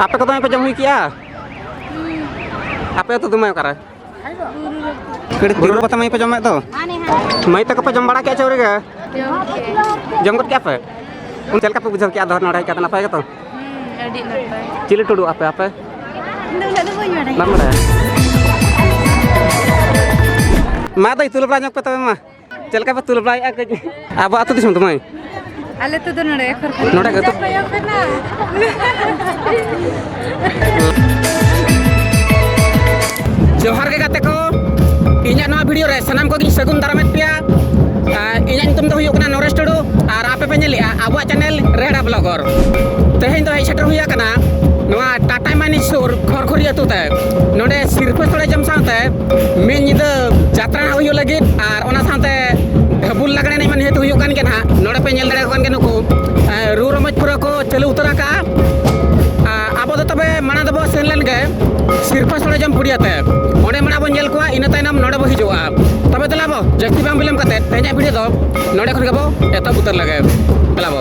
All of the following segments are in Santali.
ᱟᱯᱮ ᱠᱚ ᱫᱚᱢᱮ ᱯᱮ ᱡᱚᱢ ᱦᱩᱭ ᱠᱮᱜᱼᱟ ᱟᱯᱮ ᱟᱹᱛᱩ ᱫᱚᱢᱮ ᱚᱠᱟᱨᱮ ᱠᱟᱹᱲᱤ ᱵᱩᱨᱩ ᱯᱟᱛᱟ ᱢᱟᱹᱭ ᱯᱮ ᱡᱚᱢᱮᱫ ᱫᱚ ᱢᱟᱹᱭ ᱛᱟᱠᱚ ᱯᱮ ᱡᱚᱢ ᱵᱟᱲᱟ ᱠᱮᱜᱼᱟ ᱪᱟᱹᱣᱨᱤ ᱜᱮ ᱡᱚᱢ ᱜᱚᱫ ᱠᱮᱜᱼᱟ ᱯᱮ ᱪᱮᱫ ᱞᱮᱠᱟ ᱯᱮ ᱵᱩᱡᱷᱟᱹᱣ ᱠᱮᱜᱼᱟ ᱫᱚᱦᱚ ᱱᱚᱰᱮ ᱦᱮᱡ ᱠᱟᱛᱮ ᱱᱟᱯᱟᱭ ᱜᱮᱛᱚ ᱪᱤᱞᱤ ᱴᱩᱰᱩ ᱟᱯᱮ ᱟᱯᱮ ᱵᱟᱢ ᱵᱟᱲᱟᱭᱟ ᱢᱟ ᱫᱟᱹᱭ ᱛᱩᱞᱟᱹ ᱵᱟᱲᱟ ᱧᱚᱜ ᱯᱮ ᱛᱚᱵᱮ ᱢᱟ ᱪᱮᱫ ᱞᱮᱠᱟ ᱯᱮ ᱛᱩᱞ ᱵᱟᱲᱟᱭᱮᱫᱼᱟ ᱠᱟᱹᱡ ᱟᱵᱚ ᱟᱹᱛᱩ ᱫᱤᱥᱚᱢ ᱫᱚ ᱢᱟᱹᱭ ᱟᱞᱮ ᱛᱚ ᱫᱚ ᱱᱚᱰᱮ ᱠᱷᱚᱨ ᱱᱚᱰᱮ ᱜᱮ ᱛᱚ ᱠᱚᱭᱚᱜ ᱠᱟᱱᱟ ᱡᱚᱦᱟᱨ ᱜᱮ ᱜᱟᱛᱮ ᱠᱚ ᱤᱧᱟᱹᱜ ᱱᱚᱣᱟ ᱵᱷᱤᱰᱤᱭᱳ ᱨᱮ ᱥᱟᱱᱟᱢ ᱠᱚᱜᱮᱧ ᱥᱟᱹᱜᱩᱱ ᱫᱟᱨᱟᱢᱮᱫ ᱯᱮᱭᱟ ᱟᱨ ᱤᱧᱟᱹᱜ ᱧᱩᱛᱩᱢ ᱫᱚ ᱦᱩᱭᱩᱜ ᱠᱟᱱᱟ ᱱᱚᱨᱮᱥ ᱴᱩᱰᱩ ᱟᱨ ᱟᱯᱮ ᱯᱮ ᱧᱮᱞᱮᱜᱼᱟ ᱟᱵᱚᱣᱟᱜ ᱪᱮᱱᱮᱞ ᱨᱮᱦᱲᱟ ᱵᱞᱚᱜᱚᱨ ᱛᱮᱦᱮᱧ ᱫᱚ ᱦᱮᱡ ᱥᱮᱴᱮᱨ ᱦᱩᱭ ᱟᱠᱟᱱᱟ ᱱᱚᱣᱟ ᱴᱟᱴᱟ ᱢᱟᱱᱤ ᱥᱩᱨ ᱠᱷᱚᱨᱠᱷᱚᱨᱤ ᱟᱹᱛᱩ ᱛᱮ ᱱᱚᱰᱮ ᱥᱤᱨᱯᱟᱹ ᱥᱚᱲᱮ ᱡᱚᱢ ᱥᱟᱶᱛᱮ ᱢᱤᱫ ᱧᱤᱫᱟᱹ ᱡᱟᱛᱨᱟ ᱦᱩᱭᱩᱜ ᱞᱟᱹᱜᱤᱫ ᱟᱨ ᱚᱱᱟ ᱥᱟᱶᱛᱮ ᱰᱷᱟᱹᱵᱩᱞ ᱞᱟᱜᱽᱬᱮ ᱮᱱᱮᱡ ᱢᱟ ᱱᱤᱦᱟᱹᱛ ᱦᱩᱭᱩᱜ ᱠᱟᱱ ᱜᱮ ᱱᱟᱦᱟᱜ ᱱᱚᱰᱮ ᱯᱮ ᱧᱮᱞ ᱫᱟᱲᱮᱭᱟᱠᱚ ᱠᱟᱱ ᱜᱮᱭᱟ ᱱᱩᱠᱩ ᱨᱩ ᱨᱚᱢᱚᱡᱽ ᱯᱩᱨᱟᱹ ᱠᱚ ᱪᱟᱹᱞᱩ ᱩᱛᱟᱹᱨ ᱟᱠᱟᱜᱼᱟ ᱟᱵᱚ ᱫᱚ ᱛᱚᱵᱮ ᱢᱟᱲᱟᱝ ᱫᱚᱵᱚ ᱥᱮᱱ ᱞᱮᱱ ᱜᱮ ᱥᱤᱨᱯᱟᱹ ᱥᱚᱲᱮ ᱡᱚᱢ ᱯᱩᱲᱤᱭᱟᱛᱮ ᱚᱸᱰᱮ ᱢᱟᱲᱟᱝ ᱵᱚᱱ ᱧᱮᱞ ᱠᱚᱣᱟ ᱤᱱᱟᱹ ᱛᱟᱭᱱᱚᱢ ᱱᱚᱰᱮ ᱵᱚ ᱦᱤᱡᱩᱜᱼᱟ ᱛᱚᱵᱮ ᱫᱮᱞᱟ ᱵᱚ ᱡᱟᱹᱥᱛᱤ ᱵᱟᱝ ᱵᱤᱞᱚᱢ ᱠᱟᱛᱮ ᱛᱮᱦᱮᱧᱟᱜ ᱵᱷᱤᱰᱤᱭᱳ ᱫᱚ ᱱᱚᱰᱮ ᱠᱷᱚᱱ ᱜᱮᱵᱚ ᱮᱛᱚᱦᱚᱵ ᱩᱛᱟᱹᱨ ᱞᱮᱜᱮ ᱫᱮᱞᱟ ᱵᱚ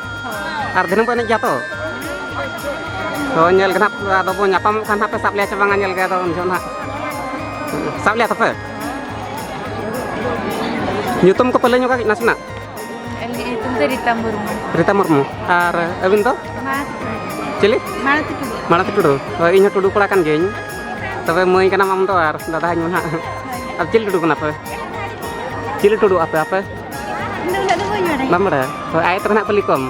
ᱟᱨ ᱫᱤᱱᱟᱹᱢ ᱠᱚ ᱮᱱᱮᱡ ᱜᱮᱭᱟ ᱛᱚ ᱛᱚ ᱧᱮᱞ ᱜᱮ ᱱᱟᱦᱟᱜ ᱟᱫᱚ ᱵᱚᱱ ᱧᱟᱯᱟᱢᱚᱜ ᱠᱷᱟᱱ ᱦᱟᱸᱜ ᱯᱮ ᱥᱟᱵ ᱞᱮᱭᱟ ᱥᱮ ᱵᱟᱝᱟ ᱧᱮᱞ ᱜᱮ ᱟᱫᱚ ᱩᱱ ᱡᱚᱦᱚᱜ ᱱᱟᱦᱟᱜ ᱥᱟᱵ ᱞᱮᱭᱟ ᱛᱚᱯᱮ ᱧᱩᱛᱩᱢ ᱠᱚᱯᱮ ᱞᱟᱹᱭ ᱧᱚᱜᱟ ᱱᱟᱥᱮᱱᱟᱜ ᱨᱤᱛᱟ ᱢᱩᱨᱢᱩ ᱨᱤᱛᱟ ᱢᱩᱨᱢᱩ ᱟᱨ ᱟᱹᱵᱤᱱ ᱫᱚ ᱪᱤᱞᱤ ᱢᱟᱲᱟᱛᱤ ᱴᱩᱰᱩ ᱢᱟᱲᱟᱛᱤ ᱴᱩᱰᱩ ᱦᱳᱭ ᱤᱧ ᱦᱚᱸ ᱴᱩᱰᱩ ᱠᱚᱲᱟ ᱠᱟᱱ ᱜᱤᱭᱟᱹᱧ ᱛᱚᱵᱮ ᱢᱟᱹᱭ ᱠᱟᱱᱟᱢ ᱟᱢ ᱫᱚ ᱟᱨ ᱫᱟᱫᱟ ᱤᱧ ᱢᱟ ᱱᱟᱦᱟᱜ ᱟᱨ ᱪᱤᱞᱤ ᱴᱩᱰᱩ ᱠᱟᱱᱟ ᱯᱮ ᱪᱤᱞᱤ ᱴᱩᱰᱩ ᱟᱯᱮ ᱟᱯᱮ ᱵᱟᱢ ᱵᱟᱲᱟᱭᱟ ᱛᱚ ᱟᱭᱮᱛ ᱨᱮ ᱱᱟᱦᱟᱜ ᱠᱩᱞᱤ ᱠᱚᱢ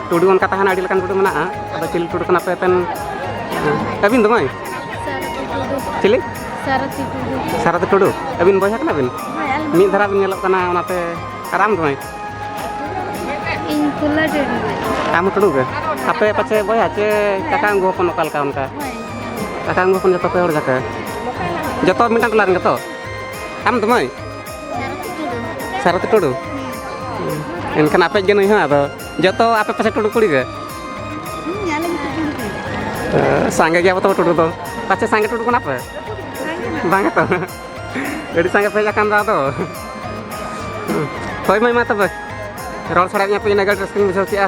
ᱴᱩᱰᱩ ᱚᱱᱠᱟ ᱛᱟᱦᱮᱱᱟ ᱟᱹᱰᱤ ᱞᱮᱠᱟᱱ ᱴᱩᱰᱩ ᱢᱮᱱᱟᱜᱼᱟ ᱟᱫᱚ ᱪᱤᱞᱤ ᱴᱩᱰᱩ ᱠᱟᱱᱟ ᱯᱮ ᱟᱯᱮᱱ ᱟᱹᱵᱤᱱ ᱫᱚ ᱢᱟᱹᱭ ᱪᱤᱞᱤ ᱥᱟᱨᱚᱛᱤ ᱴᱩᱰᱩ ᱟᱹᱵᱤᱱ ᱵᱚᱭᱦᱟ ᱠᱟᱱᱟ ᱵᱤᱱ ᱢᱤᱫ ᱫᱷᱟᱨᱟ ᱵᱤᱱ ᱧᱮᱞᱚᱜ ᱠᱟᱱᱟ ᱚᱱᱟᱛᱮ ᱟᱨ ᱟᱢ ᱫᱚ ᱢᱟᱹᱭ ᱟᱢ ᱴᱩᱰᱩ ᱜᱮ ᱟᱯᱮ ᱯᱟᱪᱮ ᱵᱚᱭᱦᱟ ᱪᱮ ᱠᱟᱠᱟ ᱟᱹᱝᱜᱩ ᱦᱚᱯᱚᱱ ᱚᱠᱟ ᱞᱮᱠᱟ ᱚᱱᱠᱟ ᱠᱟᱠᱟ ᱟᱹᱝᱜᱩ ᱦᱚᱯᱚᱱ ᱡᱚᱛᱚ ᱯᱮ ᱦᱚᱲ ᱡᱟᱠᱮ ᱡᱚᱛᱚ ᱢᱤᱫᱴᱟᱝ ᱴᱚᱞᱟ ᱨᱮᱱ ᱜᱮᱛᱚ ᱟᱢ ᱫᱚ ᱢᱟᱹᱭ ᱥᱟᱨᱚᱛ ᱴᱩᱰᱩ ᱮᱱᱠᱷᱟᱱ ᱟᱯᱮ ᱜᱮ ᱱᱩᱭ ᱦᱚᱸ ᱟᱫᱚ ᱡᱚᱛᱚ ᱟᱯᱮ ᱯᱟᱥᱮ ᱴᱩᱰᱩ ᱠᱩᱲᱤ ᱜᱮ ᱥᱟᱸᱜᱮ ᱜᱮᱭᱟ ᱛᱚ ᱴᱩᱰᱩ ᱫᱚ ᱯᱟᱪᱮ ᱥᱟᱸᱜᱮ ᱴᱩᱰᱩ ᱠᱟᱱᱟ ᱯᱮ ᱵᱟᱝ ᱛᱚ ᱟᱹᱰᱤ ᱥᱟᱸᱜᱮ ᱯᱮ ᱦᱮᱡ ᱟᱠᱟᱱ ᱫᱚ ᱟᱫᱚ ᱦᱳᱭ ᱢᱟᱹᱭ ᱢᱟ ᱛᱚᱵᱮ ᱨᱚᱲ ᱥᱟᱲᱟᱭᱮᱫ ᱢᱮᱭᱟ ᱯᱮ ᱤᱱᱟᱹᱜ ᱜᱟᱱ ᱨᱟᱹᱥᱠᱟᱹᱧ ᱵᱩᱡᱷᱟᱹᱣ ᱠᱮᱜᱼᱟ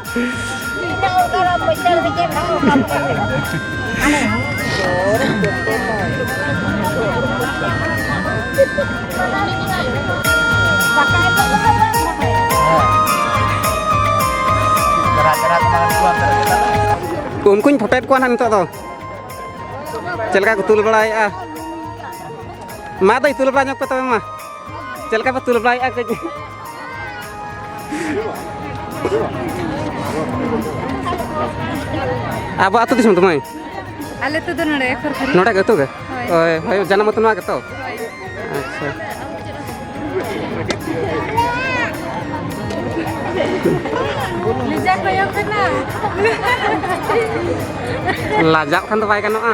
ᱩᱱᱠᱩᱧ ᱯᱷᱳᱴᱳᱭᱮᱫ ᱠᱚᱣᱟ ᱱᱟᱦᱟᱜ ᱱᱤᱛᱚᱜ ᱫᱚ ᱪᱮᱫ ᱞᱮᱠᱟ ᱠᱚ ᱛᱩᱞ ᱵᱟᱲᱟᱭᱮᱫᱼᱟ ᱢᱟ ᱫᱟᱹᱭ ᱛᱩᱞ ᱵᱟᱲᱟ ᱧᱚᱜᱽ ᱯᱮ ᱛᱚᱵᱮ ᱢᱟ ᱪᱮᱫ ᱞᱮᱠᱟ ᱯᱮ ᱛᱩᱞᱟᱹᱣ ᱵᱟᱲᱟᱭᱮᱫᱼᱟ ᱠᱟᱹᱡ ᱟᱵᱚ ᱟᱹᱛᱩ ᱫᱤᱥᱚᱢ ᱫᱚ ᱢᱟᱹᱭ ᱟᱞᱮ ᱛᱮᱫᱚ ᱱᱚᱰᱮ ᱠᱷᱚᱨᱠᱷᱚᱨᱤ ᱱᱚᱰᱮ ᱜᱮ ᱟᱹᱛᱩ ᱜᱮ ᱦᱳᱭ ᱦᱳᱭ ᱡᱟᱱᱟᱢ ᱟᱹᱛᱩ ᱱᱚᱣᱟ ᱜᱮᱛᱚ ᱟᱪᱪᱷᱟ ᱞᱤᱡᱟ ᱠᱚᱭᱚᱜ ᱠᱟᱱᱟ ᱞᱟᱡᱟᱜ ᱠᱷᱟᱱ ᱫᱚ ᱵᱟᱭ ᱜᱟᱱᱚᱜᱼᱟ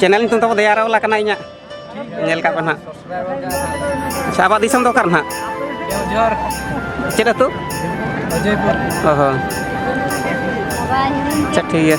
ᱪᱮᱱᱮᱞ ᱧᱩᱛᱩᱢ ᱛᱟᱵᱚ ᱫᱮᱭᱟ ᱨᱟᱣᱞᱟ ᱠᱟᱱᱟ ᱤᱧᱟᱹᱜ ᱧᱮᱞ ᱠᱟᱜ ᱯᱮ ᱱᱟᱦᱟᱜ ᱟᱪᱪᱷᱟ ᱟᱵᱚᱣᱟᱜ ᱫᱤᱥᱚᱢ ᱫᱚ ᱚᱠᱟᱨᱮ ᱱᱟᱦᱟᱜ ᱪᱮᱫ ᱟᱹᱛᱩ ᱚ ᱦᱚᱸ ᱟᱪᱪᱷᱟ ᱴᱷᱤᱠ ᱜᱮᱭᱟ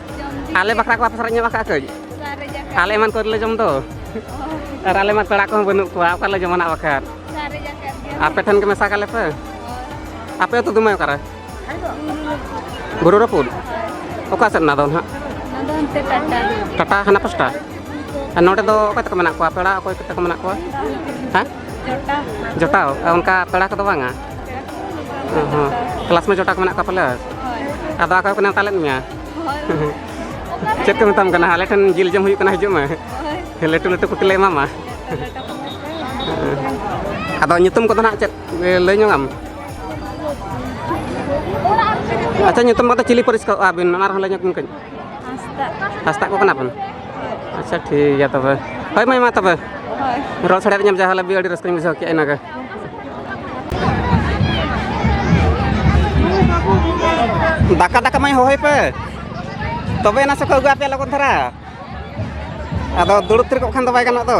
ᱟᱞᱮ ᱵᱟᱠᱷᱨᱟ ᱠᱚ ᱟᱯᱮ ᱥᱟᱞᱟᱜ ᱧᱟᱢ ᱟᱠᱟᱫ ᱠᱟᱹᱡ ᱟᱞᱮ ᱮᱢᱟᱱ ᱠᱚᱞᱮ ᱡᱚᱢ ᱫᱚ ᱟᱨ ᱟᱞᱮ ᱢᱟ ᱯᱮᱲᱟ ᱠᱚᱦᱚᱸ ᱵᱟᱹᱱᱩᱜ ᱠᱚᱣᱟ ᱚᱠᱟᱞᱮ ᱡᱚᱢᱟᱱᱟᱜ ᱵᱟᱠᱷᱟᱨ ᱟᱯᱮ ᱴᱷᱮᱱ ᱜᱮ ᱢᱮᱥᱟ ᱠᱟᱞᱮ ᱯᱮ ᱟᱯᱮ ᱟᱹᱛᱩ ᱫᱩᱢᱟᱹᱭ ᱚᱠᱟᱨᱮ ᱵᱩᱨᱩ ᱨᱟᱹᱯᱩᱫ ᱚᱠᱟ ᱥᱮᱫ ᱚᱱᱟ ᱫᱚ ᱱᱟᱦᱟᱜ ᱴᱟᱴᱟ ᱦᱟᱱᱟ ᱯᱟᱥᱴᱟ ᱟᱨ ᱱᱚᱰᱮ ᱫᱚ ᱚᱠᱚᱭ ᱛᱟᱠᱚ ᱢᱮᱱᱟᱜ ᱠᱚᱣᱟ ᱯᱮᱲᱟ ᱚᱠᱚᱭ ᱠᱚ ᱛᱟᱠᱚ ᱢᱮᱱᱟᱜ ᱠᱚᱣᱟ ᱦᱮᱸ ᱡᱚᱴᱟᱣ ᱚᱱᱠᱟ ᱯᱮᱲᱟ ᱠᱚᱫᱚ ᱵᱟᱝᱟ ᱠᱞᱟᱥ ᱢᱮ ᱡᱚᱴᱟᱣ ᱠᱚ ᱢᱮᱱᱟᱜ ᱠᱚᱣᱟ ᱯᱟᱞᱮ ᱟᱫᱚ ᱚᱠᱚᱭ ᱠᱚ ᱱᱮᱣᱛᱟ ᱞᱮᱫ ᱢᱮᱭᱟ ᱪᱮᱫ ᱠᱚ ᱢᱮᱛᱟᱢ ᱠᱟᱱᱟ ᱟᱞᱮ ᱴᱷᱮᱱ ᱡᱤᱞ ᱡᱚᱢ ᱦᱩᱭᱩᱜ ᱠᱟᱱᱟ ᱦᱤᱡᱩᱜ ᱢᱮ ᱞᱟᱹᱴᱩ ᱞᱟᱹᱴᱩ ᱠᱩᱴᱤ ᱞᱮ ᱮᱢᱟᱢᱟ ᱟᱫᱚ ᱧᱩᱛᱩᱢ ᱠᱚᱫᱚ ᱱᱟᱜ ᱪᱮᱫ ᱞᱟᱹᱭ ᱧᱚᱜ ᱟᱢ ᱟᱪᱪᱷᱟ ᱧᱩᱛᱩᱢ ᱠᱚᱫᱚ ᱪᱤᱞᱤ ᱯᱟᱹᱨᱤᱥ ᱠᱚ ᱟᱹᱵᱤᱱ ᱚᱱᱟ ᱨᱮᱦᱚᱸ ᱞᱟᱹᱭ ᱧᱚᱜᱽ ᱵᱤᱱ ᱠᱟᱹᱡ ᱦᱟᱸᱥᱫᱟᱜ ᱠᱚ ᱠᱟᱱᱟ ᱵᱚᱱ ᱟᱪᱪᱷᱟ ᱴᱷᱤᱠ ᱜᱮᱭᱟ ᱛᱚᱵᱮ ᱦᱳᱭ ᱢᱟᱹᱭ ᱢᱟ ᱛᱚᱵᱮ ᱨᱚᱲ ᱥᱟᱰᱮ ᱧᱟᱢ ᱡᱟᱦᱟᱸ ᱞᱟᱹᱜᱤᱫ ᱟᱹᱰᱤ ᱨᱟᱹᱥᱠᱟᱹᱧ ᱵᱩᱡᱷᱟᱹᱣ ᱠᱮᱜᱼᱟ ᱤᱱᱟᱹᱜᱮ ᱫᱟᱠᱟ ᱫᱟᱠᱟ ᱢᱟᱹᱭ ᱦᱚᱦᱚᱭ ᱯᱮ ᱛᱚᱵᱮ ᱮᱱᱟ ᱥᱮᱠᱚ ᱟᱹᱜᱩ ᱟᱯᱮᱭᱟ ᱞᱚᱜᱚᱱ ᱫᱷᱟᱨᱟ ᱟᱫᱚ ᱫᱩᱲᱩᱵ ᱛᱷᱤᱨ ᱠᱚᱜ ᱠᱷᱟᱱ ᱫᱚ ᱵᱟᱭ ᱜᱟᱱᱚᱜ ᱫᱚ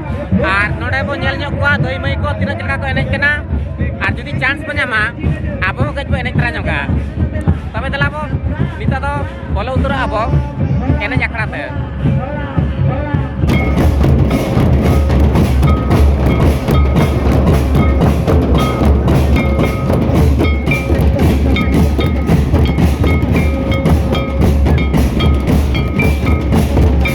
ᱟᱨ ᱱᱚᱰᱮ ᱵᱚ ᱧᱮᱞ ᱧᱚᱜ ᱠᱚᱣᱟ ᱫᱟᱹᱭ ᱢᱟᱹᱭ ᱠᱚ ᱛᱤᱱᱟᱹᱜ ᱪᱮᱫ ᱞᱮᱠᱟ ᱠᱚ ᱮᱱᱮᱡ ᱠᱟᱱᱟ ᱟᱨ ᱡᱩᱫᱤ ᱪᱟᱱᱥ ᱵᱚ ᱧᱟᱢᱟ ᱟᱵᱚ ᱦᱚᱸ ᱠᱟᱹᱡ ᱵᱚ ᱮᱱᱮᱡ ᱛᱟᱨᱟ ᱧᱚᱜᱟ ᱛᱚᱵᱮ ᱫᱮᱞᱟ ᱵᱚ ᱱᱤᱛᱚᱜ ᱫᱚ ᱵᱚᱞᱚ ᱩᱛᱟᱹᱨᱚᱜᱼᱟ ᱵᱚ ᱮᱱᱮᱡ ᱟᱠᱷᱲᱟ ᱛᱮ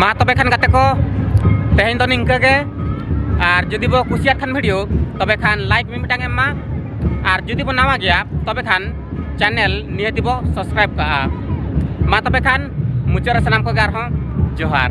ᱢᱟ ᱛᱚᱵᱮ ᱠᱷᱟᱱ ᱜᱟᱛᱮ ᱠᱚ ᱛᱮᱦᱮᱧ ᱫᱚ ᱱᱤᱝᱠᱟᱹ ᱜᱮ ᱟᱨ ᱡᱩᱫᱤ ᱵᱚ ᱠᱩᱥᱤᱭᱟᱜ ᱠᱷᱟᱱ ᱵᱷᱤᱰᱤᱭᱳ ᱛᱚᱵᱮ ᱠᱷᱟᱱ ᱞᱟᱭᱤᱠ ᱢᱤᱫᱴᱟᱝ ᱮᱢ ᱢᱟ ᱟᱨ ᱡᱩᱫᱤ ᱵᱚ ᱱᱟᱣᱟ ᱜᱮᱭᱟ ᱛᱚᱵᱮ ᱠᱷᱟᱱ ᱪᱮᱱᱮᱞ ᱱᱤᱦᱟᱹᱛᱤ ᱵᱚ ᱥᱟᱵᱥᱠᱨᱟᱭᱤᱵ ᱠᱟᱜᱼᱟ ᱢᱟ ᱛᱚᱵᱮ ᱠᱷᱟᱱ ᱢᱩᱪᱟᱹᱫ ᱨᱮ ᱥᱟᱱᱟᱢ ᱠᱚᱜᱮ ᱟᱨᱦᱚᱸ ᱡᱚᱦᱟᱨ